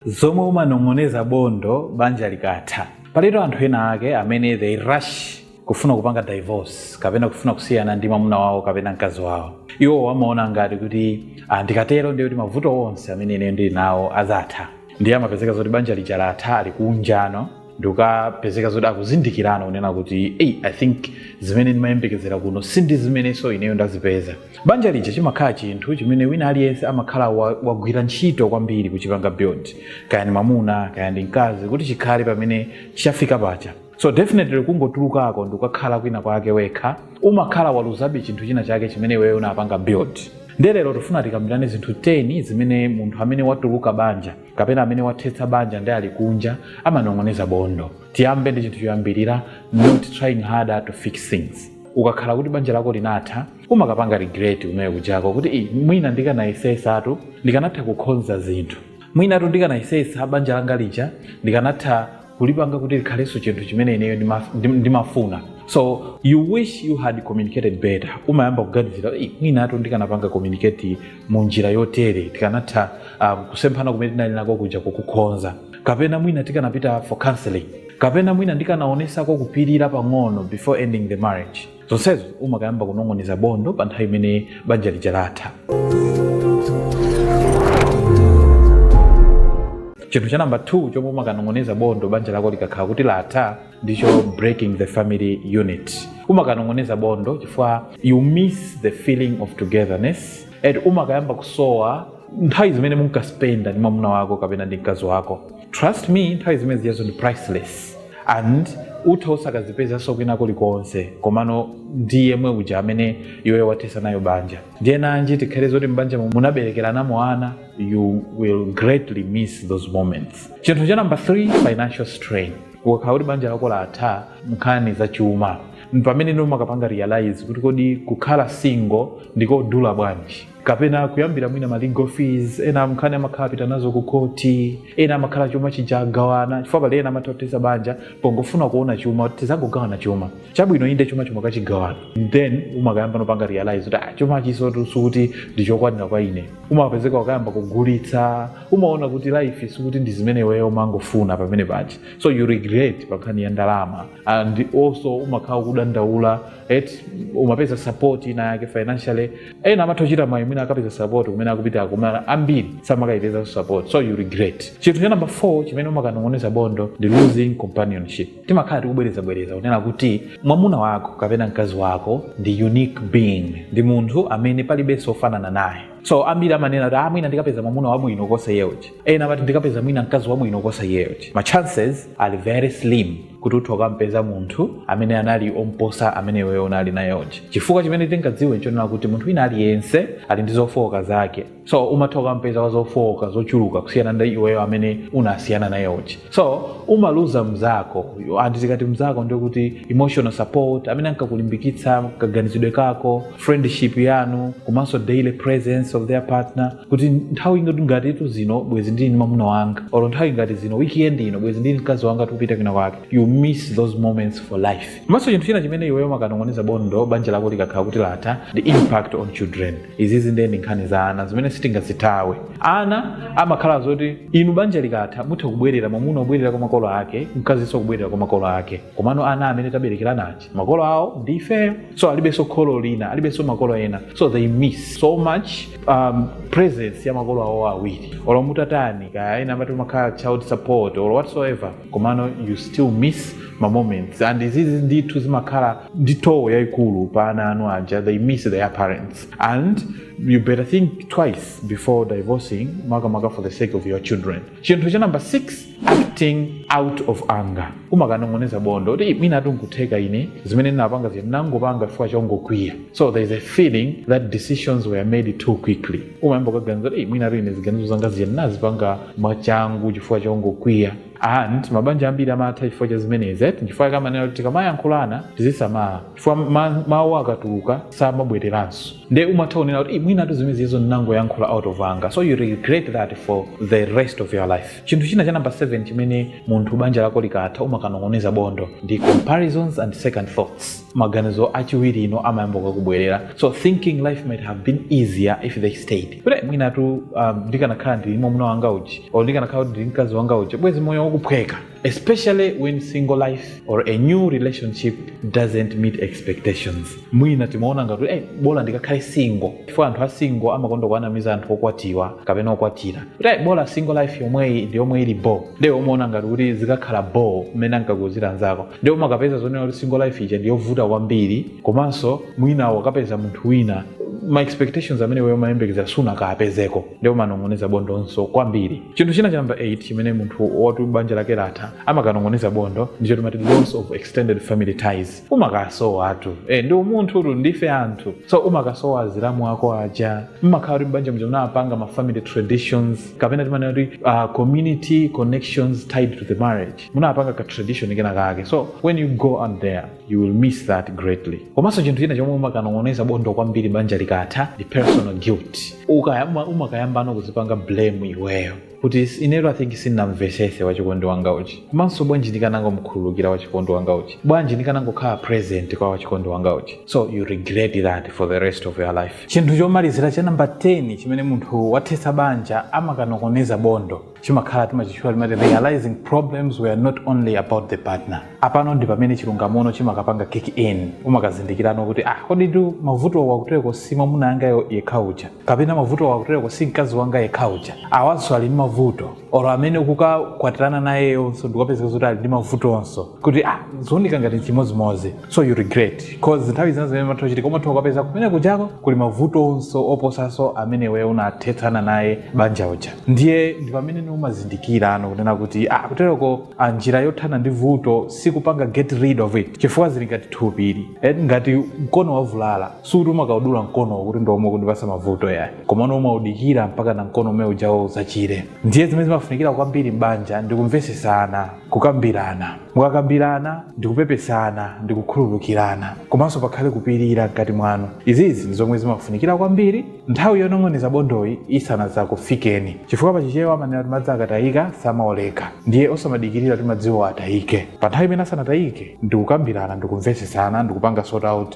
zomwe umanong'oneza bondo banja likatha. Palitu anthu ena ake amene they rush kufuna kupanga divorce kapena kufuna kusiyana ndi mwamuna wawo kapena mkazi wawo. Iwowo amaona ngati kuti ah, ndikatero ndiye kuti mavuto onse amene ine ndili nawo adzatha. Ndiye amapezeka zoti banja lija latha ali kunjano ndikukapezeka zoti akuzindikira no kunena kuti eyi i think zimene ndimayembekezera kuno si zimenenso ineyo ndazipeza Banja lija chimakhala chinthu chimene wina aliyense amakhala wa, wagwira ntchito kwambiri kuchipanga build, kaya ndi mwamuna kaya ndi mkazi, kuti chikhale pamene chafika paja. So definitely kungotulukako ndikukakhala kwina kwake wekha umakhala waluzabe chinthu china chake chimene iweyo unapanga build. Nde lero tifuna tikambirane zinthu 10 zimene munthu amene watuluka m'banja kapena amene wathetsa banja nde ali kunja amanong'oneza bondo. Tiyambe ndi chinthu choyambirira, not trying harder to fix things. ukakhala kuti banja lako linatha umakapanga regret iweyo kujako kuti "Ih, mwina ndikanayesesatu ndikanatha kukhonza zinthu mwinatu ndikanayesesa banja langa lija ndikanatha kulipanga kuti likhalenso chinthu chimene ineyo ndima- ndim- ndimafuna so you wish you had communicated better umayamba kuganizira "Ih, mwinatu ndikanapanga communicate mu njira yotere tikanatha um, kusemphana kumene tinali nako kuja kukukhonza kapena mwina tikanapita for counseling kapena mwina ndikanaonesako kupirira pang'ono before ending the marriage zonsezo umakayamba kunong'oneza bondo pa nthawi imene banja lija latha chinthu cha namba 2 chomwe umakanong'oneza bondo banja lako likakhala kuti latha ndicho breaking the family unit umakanong'oneza bondo chifukwa you miss the feeling of togetherness and umakayamba kusowa nthawi zimene munkaspenda ndi mwamuna wako kapena ndi mkazi wako trust me nthawi zimene zijazo ndi priceless and utha usakazipezanso kwina kulikonse komano ndi yemwe uja amene iweyo wathetsa nayo banja ndiye nanji tikhale zoti m'banja mu- munaberekeranamo ana you will greatly miss those moments chinthu cha number 3 financial strain ukakhala kuti banja lako latha nkhani za chuma mpamene no umakapanga realize kuti kodi kukhala single ndikodula bwanji kapena kuyambira mwina ma legal fees ena nkhani amakhala apita nazo ku khoti ena amakhala chuma chija agawana chifukwa pali ena amatha kuthetsa banja pongofuna kuona chuma kuti tizangogawana chuma chabwino inde chuma mumakachigawana then umakayamba no kupanga realize kuti ah, chuma chijatu sikuti ndi chokwanira kwa ine umapezeka wakayamba kugulitsa umaona kuti life sikuti ndi zimene iweyo umangofuna pamene paja so you regret pa nkhani ya ndalama and also umakhala ukudandaula et umapeza support ina yake financially ena amatha kuchita mayi mwina akapeza support kumene akupitako mwina ambiri samakayipeza support so you regret chinthu cha number 4 chimene umakanong'oneza bondo ndi losing companionship timakhala tikubwerezabwereza kunena kuti mwamuna wako kapena mkazi wako ndi unique being ndi munthu amene palibenso ofanana naye so ambiri amanena kuti ah, mwina ndikapeza mwamuna wabwino kuposa iyeyo uja ena amati ndikapeza mwina mkazi wabwino kuposa iyeyo uja ma chances are very slim kuti utha kukampeza munthu amene anali omposa amene iweyo unali naye uja chifukwa chimene tingadziwe nchonena kuti munthu wina aliyense ali ndi zofooka zake so umatha kukampeza wa zofooka zochuluka kusiyana ndi iyeyo amene unasiyana naye uja so umaluza mzako and tikati mzako ndiye kuti emotional support amene ankakulimbikitsa kaganizidwe kako friendship yanu komanso daily presence of their partner kuti nthawi ngatitu zino bwezi ndili ndi mamuna wanga or nthawi ngati zino weekend ino bwezi ndili mkazi wanga tikupita kwina kwake you miss those moments for life komanso chinthu china chimene iweyo umakanong'oneza bondo banja lako likakhala kuti latha the impact on children izizi ndiye ndi nkhani za ana zimene sitingazithawe ana amakhala zoti inu banja likatha mutha kubwerera mwamuna kubwerera kwa makolo ake mkazinso kubwerera kwa makolo ake komano ana amene taberekerana makolo awo ndi ifeyo so alibenso kholo lina alibenso makolo ena so they miss so much um, presence ya makolo awo awiri olo mutatani kaya ena amati pamakhala child support or whatsoever komano you still miss ma moments and izizi ndithu zimakhala ndi toll yayikulu pa ana anu aja they miss their parents and you better think twice before divorcing makamaka for the sake of your children chinthu cha number 6 acting out of anger umakanong'oneza bondo kuti mwinatu nkutheka ine zimene ndinapanga zinthu ndinangopanga chifukwa chongokwiya so there is a feeling that decisions were made too quickly umayamba kukaganiza kuti mwinatu ine ziganizo zanga zija ndinazipanga mwachangu chifukwa chongokwiya and mabanja ambiri amatha chifukwa cha zimenezi eti chifukwa chake amanena kuti tikamayankhulana tizisamala chifukwa ma- mawu akatuluka samabwereranso nde umatha kunena kuti "Ih, mwinatu zimenezizo ndinangoyankhula out of anger so you regret that for the rest of your life chinthu china cha namba 7 chimene munthu banja lako likatha umakanong'oneza bondo ndi comparisons and second thoughts maganizo achiwiri no amayamba kukubwerera so thinking life might have been easier if they stayed kuti mwinatu um, ndikanakhala ndili mwamuna wanga uja or ndikanakhala kuti ndili mkazi wanga uja bwezi moyo ukuphweka especially when single life or a new relationship doesn't meet expectations mwina timaona ngati eh, bola ndikakhale single chifukwa anthu a single amakonda kuwanamiza anthu okwatiwa kapena okwatira kuti eh, bola single life yomweyi ndi yomwe ili bo nde umaona ngati kuti zikakhala bo mmene ankakuuzira anzako nde umakapeza zonena kuti single life ija ndi yovuta kwambiri komanso mwina wakapeza munthu wina ma expectations amene iweyo umayembekeza sunakapezeko nde umanong'oneza bondonso kwambiri chinthu china cha namba 8 chimene munthu woti banja lake latha amakanong'oneza bondo ndicho timati loss of extended family ties umakasowatu e, ndiwe munthu tu ndife anthu so umakasowa azilamu ako aja mmakhala kuti mbanja muja munapanga ma family traditions kapena timanena kuti uh, community connections tied to the marriage munapanga ka tradition kena kake so when you go out there you will miss that greatly komanso chinthu china chomwe umakanong'oneza bondo kwambiri banja likatha ndi personal guilt ukayamba umakayambano kuzipanga blame iweyo kuti "Is- inetu i think sindinamvesese wachikondi wanga uja komanso bwanji ndikanangomkhululukira wachikondi wanga uja bwanji ndikanangokhala present kwa wachikondi wanga uja so you regret that for the rest of your life chinthu chomalizira cha namba 10 chimene munthu wathetsa banja amakanong'oneza bondo chimakhala timachitchula timati realizing problems were not only about the partner apano ndi pamene chilungamono chimakapanga kick in umakazindikirano kuti ah kodi tu mavuto wakutereko si mamuna wanga yekha uja kapena mavuto akutereko si mkazi wanga yekha uja awanso ali ndi mavuto oro amene ukukakwatirana nayeyonso ndi kapezeka zoti ali ndi mavutonso kuti ah zooneka ngati chimodzimodzi so you regret cause nthawi zina zimene zimatha kuchitika umatha ukapeza kumene kujako kuli mavutonso oposanso amene iwe unathetsana naye banja uja ndiye ndi pamene ni umazindikirano kunena kuti ah kutereko ah, njira yothana ndi vuto sikupanga get rid of it chifukwa zili ngati thupili Eh, ngati mkono wavulala sikuti umakaudula mkono kuti ndi omwe ukundipasa mavuto yayi komano umaudikira mpaka na mkono umene ujawo uzachire ndiye zimene zimafunikira kwambiri m'banja ndi kumvesesana kukambirana mukakambirana ndi kupepesana ndi kukhululukirana komanso pakhale kupirira mkati mwanu izizi ndi zomwe zimafunikira kwambiri nthawi yonong'oneza bondoyi isanazakufikeni chifukwa pachichewa amanena kuti madzi akatayika samaoleka ndiye osamadikirira kuti madziwo atayike pa nthawi imene asanatayike ndi kukambirana ndi kumvesesana ndi kupanga sort out